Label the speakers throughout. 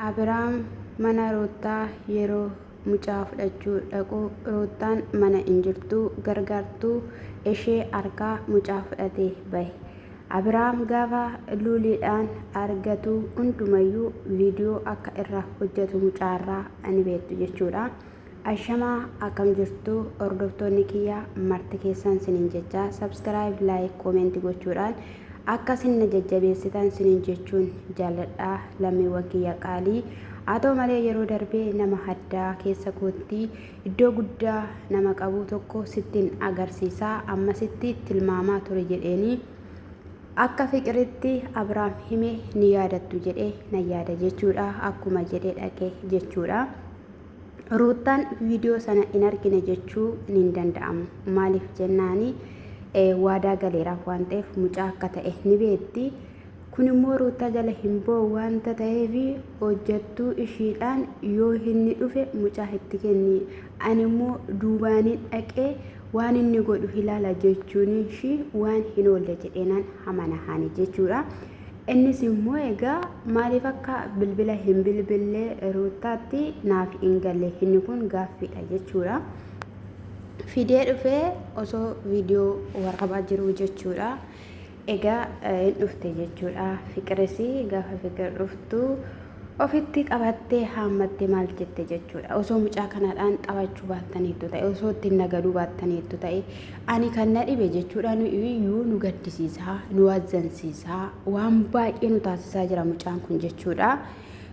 Speaker 1: Abiraam mana Ruuttaa yeroo mucaa fudhachuu dhaqu Ruuttaan mana hin jirtu, gargaartuu ishee harkaa mucaa fudhatee bahe. Abiraam gaafa luuliidhaan argatu hundumayyuu viidiyoo akka irraa hojjatu mucaarraa ni beektu jechuudha. Ashamaa akkam jirtu hordoftoonni kiyya marti keessan sinin jecha subscribe like comment gochuudhaan akka sin na jajjabeessitan sinin jechuun jaalladha lammiiwwan kiyya qaalii haa ta'u malee yeroo darbee nama haddaa keessa kootti iddoo guddaa nama qabu tokko sittin agarsiisaa ammasitti tilmaamaa ture jedheenii akka fiqiritti abraam hime ni yaadattu jedhe na yaada jechuudha akkuma jedhe dhaqe jechuudha. Ruuttaan viidiyoo sana hin argine jechuu hin danda'amu. Maaliif jennaani waadaa galeeraaf waan ta'eef mucaa akka ta'e ni beekti. Kun immoo ruuttaa jala hin ba'u waanta ta'eef hojjettuu ishiidhaan yoo inni dhufe mucaa itti kenni. Ani immoo duubaanin dhaqee waan inni godhu ilaala jechuun ishii waan hin oolle jedheenaan hamana haani jechuudha. Innis immoo egaa maaliif akka bilbila hin bilbille ruuttaatti naaf hin galle inni kun gaaffiidha jechuudha. Fidee dhufee osoo viidiyoo waraabaa jiruu jechuudha. Egaa hin dhufte jechuudha. Fiqiris gaafa fiqir dhuftu ofitti qabattee haammattee maal jette jechuudha. Osoo mucaa kanaadhaan taphachuu baattaniittu ta'e, osoo ittiin nagaduu baattaniittu ta'e, ani kan na dhibe jechuudha nu iyyuu nu gaddisiisaa, nu wazzansiisaa, waan baay'ee nu taasisaa jira mucaan kun jechuudha.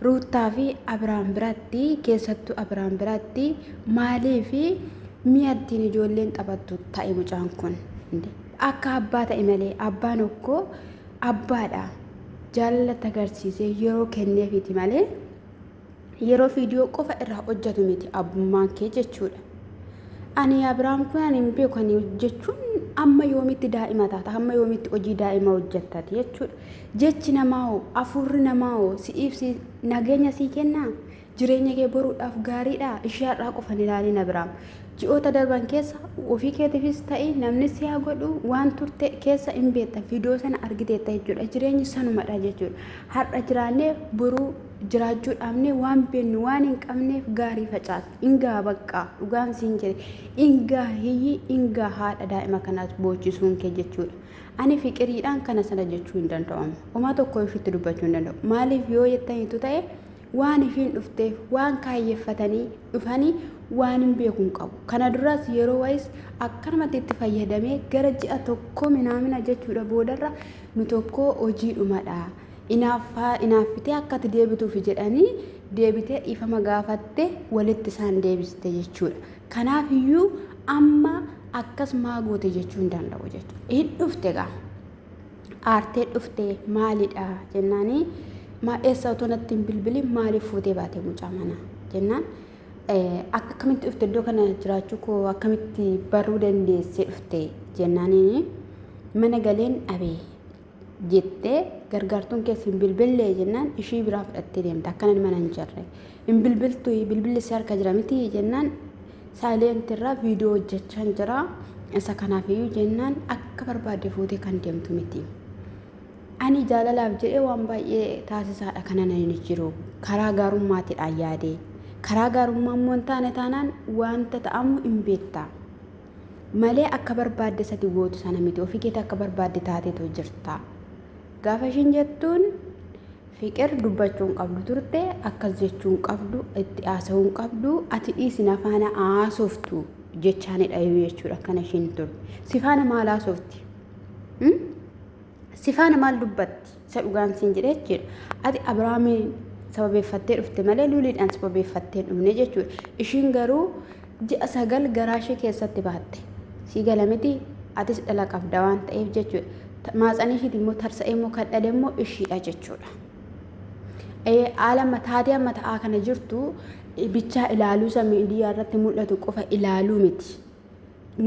Speaker 1: Ruuttaa fi Abiraam biratti keessattuu Abiraam biratti maalii fi mi'a ittiin ijoolleen taphattu ta'e mucaan kun. Akka abbaa ta'e malee abbaan okkoo abbaadha jaalalatti agarsiisee yeroo kenneefiiti malee yeroo viidiyoo qofa irraa hojjetu miti abbummaan kee jechuudha. Ani Abiraam kun ani hin beeku ani jechuun amma yoomitti daa'ima taata amma yoomitti hojii daa'ima hojjettati jechuudha. Jechi namaa hoo afuurri namaa hoo si'iif si nageenya sii kennaa? Jireenya kee boruudhaaf gaariidhaa? Ishii har'aa qofa hin ilaalin Abiraam. Ji'oota darban keessa ofii keetiifis ta'i namni si haa godhu waan turte keessa hin beekta viidiyoo sana argiteetta jechuudha. Jireenyi sanumadha jechuudha. Har'a jiraannee boruu jiraachuu dhaabnee waan beennu waan hin qabneef gaarii facaas. Ingaa baqqaa dhugaan siin jedhe ingaa hiyyii ingaa haadha daa'ima kanaas boochisuun kee jechuudha. Ani fiqiriidhaan kana sana jechuu hin danda'amu. Omaa tokko ishiitti dubbachuu hin danda'u. Maaliif yoo jettaniitu ta'e waan ifiin dhufteef waan kaayyeffatanii dhufanii waan hin beeku hin qabu. Kana duraas yeroo wayis akkanumatti itti fayyadamee gara ji'a tokko minaamina jechuudha boodarra nu tokko hojiidhumadha. Inaaffaa inaaffitee akkati deebituuf jedhanii deebitee dhiifama gaafatte walitti isaan deebiste jechuudha. Kanaaf iyyuu amma akkas maa goote jechuu hin danda'u jechuudha. Hin dhufte gaa. aartee dhufte maalidha jennaani ma eessa otoo natti hin bilbilin maaliif fuutee baate mucaa mana jennaan akka akkamitti dhufte iddoo kana jiraachuu koo akkamitti baruu dandeessee dhufte jennaaniin mana galeen dhabee jettee gargaartuun keessa hin bilbillee jennaan ishii biraa fudhattee deemte akkanan mana hin jirre Hin bilbiltu bilbilli si harka jira miti jennaan saayileentii irraa viidiyoo hojjechaan jira. Isa kanaaf iyyuu jennaan akka barbaadde fuutee kan deemtu miti. Ani jaalalaaf jedhee waan baay'ee taasisaadha kana nan jiru. Karaa gaarummaatiidhaan yaadee. Karaa gaarummaa immoo hin taane taanaan wanta ta'amu hin beekta. Malee akka barbaadde sati gootu sana miti. Ofii keetii akka barbaadde taateetu jirta. Gaafa ishiin jettuun Fiqir dubbachuu hin qabdu turte akkas jechuu hin qabdu itti haasa'uu hin qabdu ati dhiisi na faana haasoftu jechaani dhayu jechuudha akkana ishiin turte si faana maal haasofti Hmm? si faana maal dubbatti isa dhugaan siin jedhe jechuudha ati abrahaamiin sababeeffattee dhufte malee luuliidhaan sababeeffattee hin dhufne jechuudha ishiin garuu Ji'a sagal garaa ishee keessatti baatte. Sii gala miti atis dhala qabda waan ta'eef jechuudha. Maatsanii ishiiti immoo tarsa'ee immoo kan dhale immoo ishiidha jechuudha. Haala taatee amma ta'aa kana jirtu bichaa ilaaluu isa miidiyaa irratti mul'atu qofa ilaaluu miti.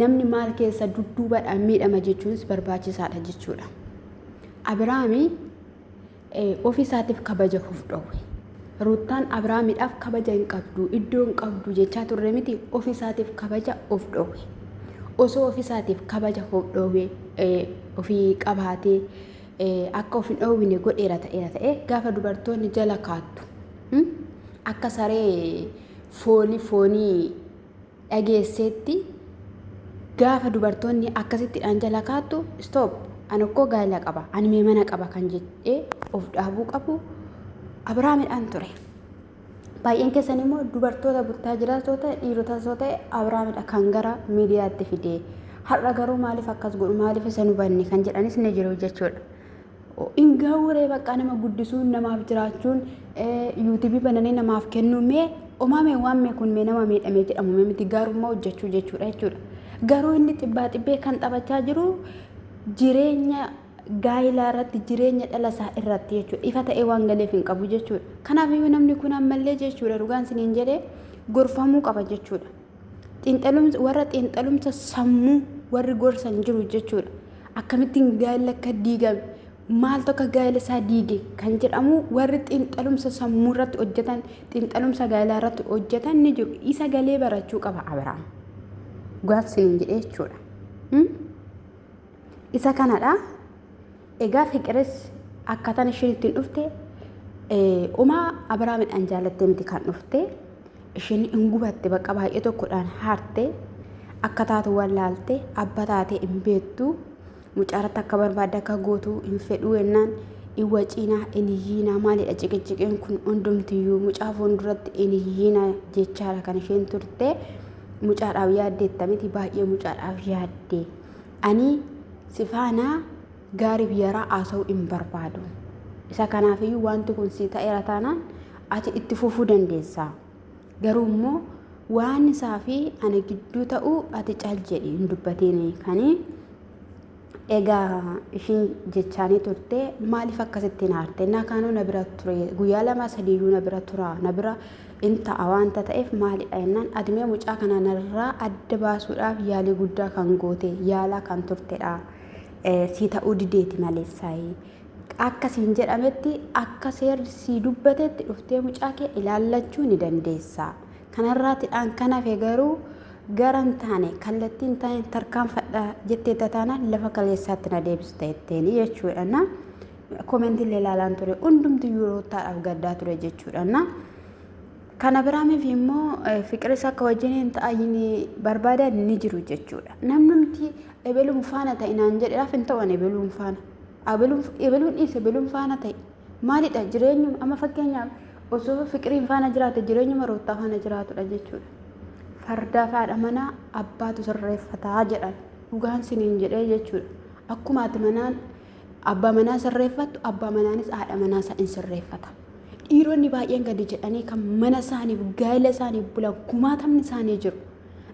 Speaker 1: Namni maal keessa dudduubadhaan miidhama jechuunis barbaachisaadha jechuudha. Abiraami Ofii isaatiif kabaja of dhowwe. Ruuttaan Abrahaamidhaaf kabaja hin qabdu, iddoo hin qabdu jechaa turre miti ofii isaatiif kabaja of dhowwe. Osoo ofii isaatiif kabaja of dhowwe ofii qabaatee akka of hin dhowwine godheera ta'eera ta'e gaafa dubartoonni jala kaattu akka saree foolii foonii dhageesseetti gaafa dubartoonni akkasitti dhaan jala kaattu stop an okkoo gaa'ila qaba an mee mana qaba kan jedhee of dhaabuu qabu abrahaamidhaan ture baay'een keessan immoo dubartoota buttaa jiraatoo ta'e dhiirota soo ta'e abrahaamidha kan gara miidiyaatti fidee har'a garuu maaliif akkas godhu maaliif isa hubanne kan jedhanis ni jiru jechuudha hin gahuuree baqqaa nama guddisuun namaaf jiraachuun yuutubii bananii namaaf kennuu mee omaa mee waan mee kun mee nama miidhamee jedhamu mee miti gaarummaa hojjechuu jechuudha jechuudha garuu inni xibbaa xibbee kan taphachaa jiru jireenya gaa'ilaa irratti jireenya dhala isaa irratti jechuudha ifa ta'ee waan galeef hin qabu jechuudha kanaaf iyyuu namni kun ammallee jechuudha dhugaan isiniin jedhee gorfamuu qaba jechuudha Xiinxalumsa warra xiinxalumsa sammuu warri gorsan jiru jechuudha. Akkamittiin gaa'elli akka diigame maaltu akka gaa'ela isaa diige kan jedhamu warri xiinxalumsa sammuu irratti hojjetan xiinxalumsa gaa'elaa irratti hojjetan ni jiru. Isa galee barachuu qaba Abiraam. Gaaf siniin jedhee jechuudha. Isa kanadha. Egaa fiqiris akkaataan isheen ittiin dhufte umaa Abiraamidhaan jaalattee miti kan dhufte. Isheen hin gubatte bakka baay'ee tokkodhaan haarte akka taatu wallaalte abba taatee hin beektu mucaaratti akka barbaadde akka gootu hin fedhuu jennaan hin waciinaa hin hiyyiinaa maalidha ciqiciqeen kun hundumtiyyuu mucaa fuulduratti hin hiyyiinaa jechaadha kan isheen turte mucaadhaaf yaaddeetta miti baay'ee mucaadhaaf yaadde. Ani si faana gaarii biyyaraa haasa'uu hin barbaadu. Isa kanaafiyyuu wanti kun si ta'eera taanaan ati itti fufuu dandeessa. Garuu immoo waan isaa fi ana gidduu ta'u ati cal jedhi hin dubbatiin kanii egaa ishiin jechaanii turte maaliif akkasitti hin aarte na kaanoo na bira ture guyyaa lama sadiiyyuu na bira tura na bira in ta'a waanta ta'eef maalidha jennaan admee mucaa kana narraa adda baasuudhaaf yaalii guddaa kan goote yaalaa kan turtedha. Sii ta'uu dideeti maleessaayi. Akka siin jedhametti akka seerri sii dubbatetti dhuftee mucaa kee ilaallachuu ni dandeessa. Kanarraatidhaan kan hafe garuu gara hin taane kallattii hin taane tarkaanfadha jettee tataanaan lafa kaleessaatti na deebista jetteeni jechuudha. Komenti illee ilaalaan ture hundumtiyyuu ruuttaadhaaf gaddaa ture jechuudha na kan abiraamiif immoo fiqiris akka wajjiniin ta'ayin barbaadan ni jiru jechuudha namnumti ebeluun faana ta'e naan jedheef hin ta'an ebeluun faana ebeluun dhiis ebeluun faana ta'e maalidha jireenyuma amma fakkeenyaaf osoo fiqiriin faana jiraate jireenyuma ruuttaa faana jiraatudha jechuudha fardaa faadha manaa abbaatu sirreeffataa jedhan dhugaan siniin jedhee jechuudha akkuma ati manaan Abbaa manaa sirreeffattu, abbaa manaanis haadha manaa isaa in sirreeffata. Dhiironni baay'een gadi jedhanii kan mana isaaniif, gaa'ela isaaniif bulan kumaatamni isaanii jiru.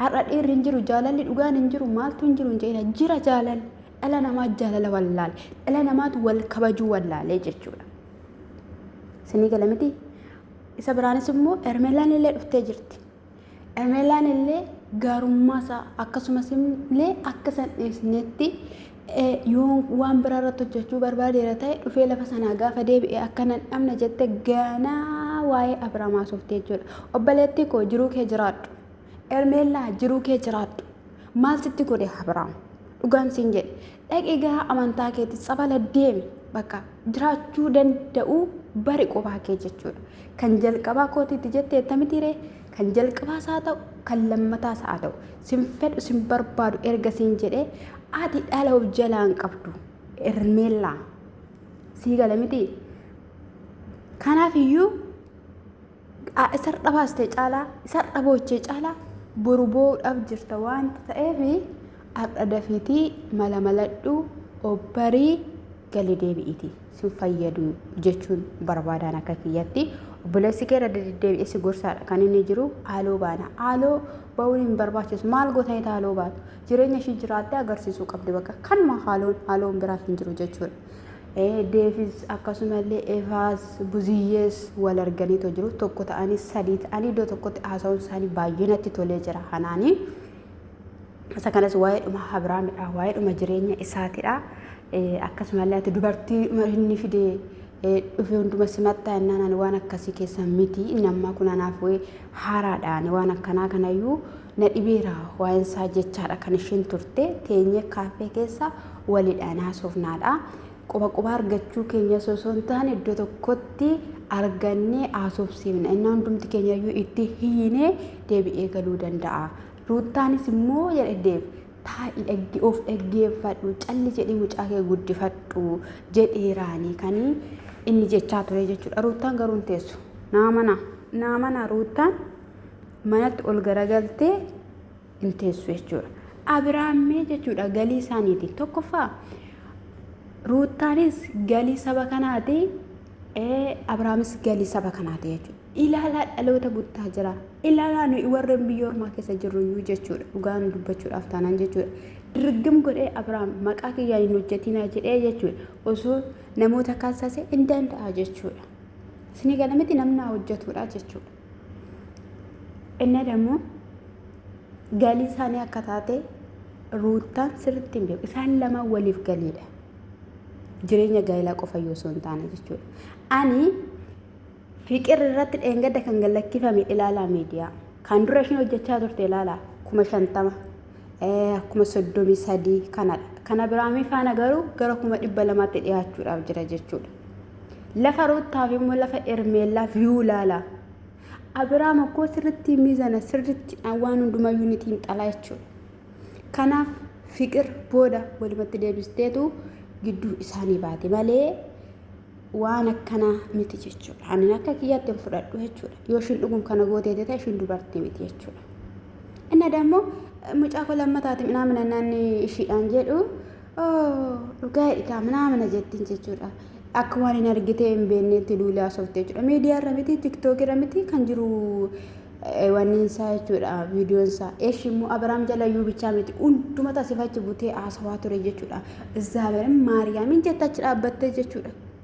Speaker 1: Har'a dhiirri hin jiru, jaalalli dhugaan hin jiru, maaltu hin jiru hin jedhina. Jira jaalalli. Dhala namaa jaalala wallaale. Dhala namaatu wal kabajuu wallaalee jechuudha. Isinii gala miti? Isa biraanis immoo Hermelaan illee dhuftee jirti. Emelaan illee gaarummaa isaa akkasumas illee akka san dhiisnetti yoo waan biraa irratti hojjechuu barbaadeera ta'e dhufee lafa sanaa gaafa deebi'e akka nan dhabne jette ganaa waa'ee Abiraam haasofte jechuudha. Obboleettii koo jiruu kee jiraadhu. Ermeellaa jiruu kee jiraadhu. Maal sitti godhe Abiraam? Dhugaan siin jedhe. Dhaqi gaa amantaa keetti tsabala deemi bakka jiraachuu danda'uu bari qophaa kee jechuudha. Kan jalqabaa kootiitti jette ettamitiiree kan jalqabaas haa ta'u kan lammataas haa ta'u sin fedhu sin barbaadu erga siin jedhee ati dhala of jalaan qabdu ermeellaa sii gala mitii kanaaf iyyuu Aa, isa har'a baaste caalaa isa har'a boochee caalaa boru boo'uudhaaf jirta waan ta'eef har'a dafiitii mala maladhu obbarii gali deebi'iti sin fayyadu jechuun barbaadaan akka kiyyatti obboleessi kee irra deddeebi'ee si gorsaadha kan inni jiru haaloo baana haaloo ba'uun hin barbaachisu maal gootanii haaloo baatu jireenya ishii jiraattee agarsiisuu qabdi bakka kanuma haaloon haaloon biraa hin jiru jechuudha. Deevis akkasumallee Evaas Buziyyees wal arganiitoo jiru. Tokko ta'anii sadii ta'anii iddoo tokkotti haasa'uun isaanii baay'ee natti tolee jira hanaanii. Isa kanas waa'eedhuma Abrahaamidha. Waa'eedhuma jireenya isaatidha. Akkasumallee ati dubartii inni fidee dhufe hunduma simattaa innaan ani waan akkasii keessa miti inni ammaa kun anaaf wayii haaraadha ani waan akkanaa kanayyuu Na dhibeera waa'insaa jechaadha kan isheen turte teenyee kaaffee keessa walidhaan haasofnaadha. Quba quba argachuu keenya osoo hin taane iddoo tokkotti argannee haasofsiifna. Inni hundumti keenya iyyuu itti hiinee deebi'ee galuu danda'a. Ruuttaanis immoo jedhe deef taa'i dhagge of dhaggeeffadhu calli jedhii mucaa kee guddifadhu jedheeraanii kan inni jechaa ture jechuudha. Ruuttaan garuu hin teessu. Naa mana naa mana ruuttaan manatti ol garagaltee hin teessu jechuudha. Abiraammee jechuudha galii isaaniiti. Tokkoffaa Ruuttaanis galii saba kanaati. Abiraamis galii saba kanaati jechuudha. Ilaalaa dhaloota guddaa jira. Ilaalaa nuyi warreen biyya ormaa keessa jirru iyyuu jechuudha. Dhugaan dubbachuudhaaf taanaan jechuudha. Dirgim godhee Abiraam maqaa kiyyaan hin hojjetinaa jedhee jechuudha. Osoo namoota kaasase hin danda'a jechuudha. Isinii galamiti namni haa hojjetudha jechuudha. እና ደግሞ galii isaanii akka taate ruuttaan sirriitti hin beeku. Isaan lama waliif galiidha. Jireenya gaa'ilaa qofa yoo osoo hin taane jechuudha. Ani fiqir irratti dheengadda kan gallakkifame ilaalaa miidiyaa. Kan dura isheen hojjechaa turte ilaalaa kuma shantama kuma soddomii sadii kanadha. Kana biraamii faana garuu gara kuma dhibba lamaatti dhiyaachuudhaaf jira jechuudha. Lafa Ruuttaaf immoo lafa Ermeellaa viyuu ilaala. Abiraam akkoo sirritti miizana sirritti waan hundumayyuu ni xiinxalaa jechuudha. Kanaaf fiqir booda walumatti deebisteetu gidduu isaanii baate malee waan akkanaa miti jechuudha. Ani akka kiyyaatti hin fudhadhu jechuudha. Yoo ishiin dhugum kana gootee ta'e ishiin dubartii miti jechuudha. Inni dammoo mucaa koo lammataatiin minaa minannaan ishiidhaan jedhu Dhugaa dhigaa manaa mana jettiin jechuudha. Akka waan hin argitee hin beekneetti duulee haasofte jechuudha. Miidiyaa irra miti, tiktook irra miti kan jiru wanni isaa jechuudha viidiyoon isaa. Eesh immoo Abiraam jalayyuu bichaa miti hunduma tasifachi butee haasawaa ture jechuudha. Izaabeerin maariyaamin jetta achi dhaabbattee jechuudha.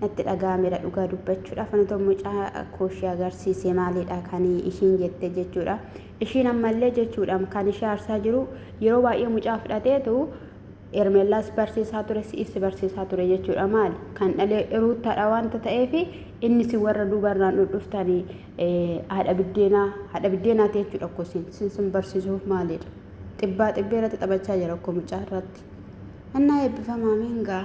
Speaker 1: natti dhaga'ameera dhugaa dubbachuudhaaf ani tokko mucaa koo ishee agarsiise maalidha kan ishiin jette jechuudha ishiin ammallee jechuudha kan ishee aarsaa jiru yeroo baay'ee mucaa fudhateetu ermeellaas barsiisaa ture si'is barsiisaa ture jechuudha maali kan dhalee ruuttaadha wanta ta'eef inni si warra duubarraan dhudhuftanii haadha biddeenaa haadha biddeenaa ta'e jechuudha koo sin sin sin barsiisuuf maalidha xibbaa xibbee irratti taphachaa jira koo mucaa irratti annaa eebbifamaa miingaa.